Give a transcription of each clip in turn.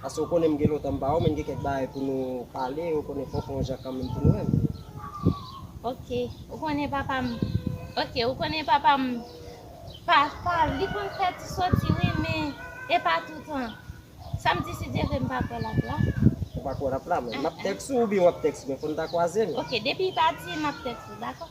Paske ou konnen m gen lontan m pa wè w men gen kèk bagay pou nou pale ou konnen fòk ou yon jan kanmenm pou nou wè m. Ok, ou konnen papa m Ok, ou konnen papa m Pafwa li konn fè ti soti wi men e pa toutan Sa m di si Dye vle m pa kwè l ap la Ou pa kwè l ap la men m ap tèks ou oubyen w ap tèks mwen fò n ta kwaze nou. Ok, depi l pati m ap tèks ou dakò.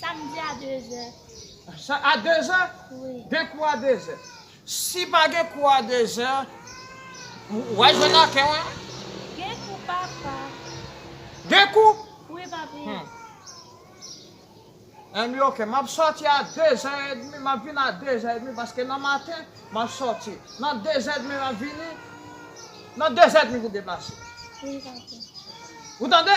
Samdi a 2 zè. A 2 zè? Wi. Gen kou a 2 zè. Si pa gen kou a 2 zè, w'a jwenn ak e mwen? Gen kou papa. Gen kou? Wi papi. Anyn ok, m'ap sòti a 2 zè edmi, m'ap vin a 2 zè edmi paske nan maten m'ap sòti. Nan 2 zè edmi m'ap vini. Nan 2 zè edmi pou deplase. Wi papi. Ou tande?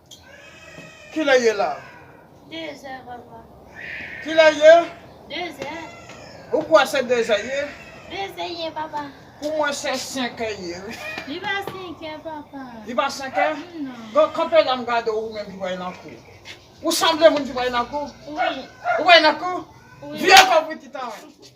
Kilè ye la? Dezè papa. Kilè ye? Dezè. Ou kwè se dezè ye? Dezè ye papa. Pou mwen se senkè ye wi. Li pa senkè papa. Li pa senkè? Non. Bon kanpe la m gade w ou menm ki pral nan kou. Ou sanble moun ki pral nan kou? Wi. Ou pral nan kou? Wi. Vire kò w pou ti tan.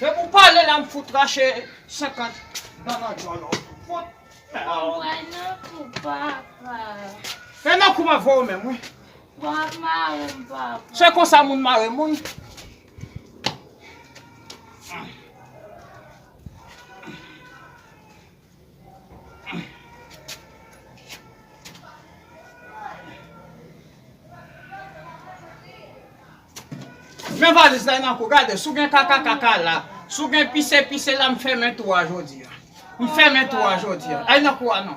Depi ou pale la m fout rache 50 dan nan dyòl ou. Fout mèa ou. Mwen pran nan kou papa. E nan kou map voye ou menm wi. Wap mare m papa. Se konsa moun mare moun. Men valiz la nan kou gade si w gen kaka kaka la si w gen pise pise la m fèmen tou a jodi a m fèmen tou a jodi a al nan kou a non.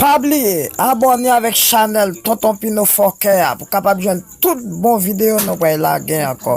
Pa bliye abòne avèk chanèl tonton pino fòkè a pou kapab jwenn tout bon videyo nou pral lage ankò.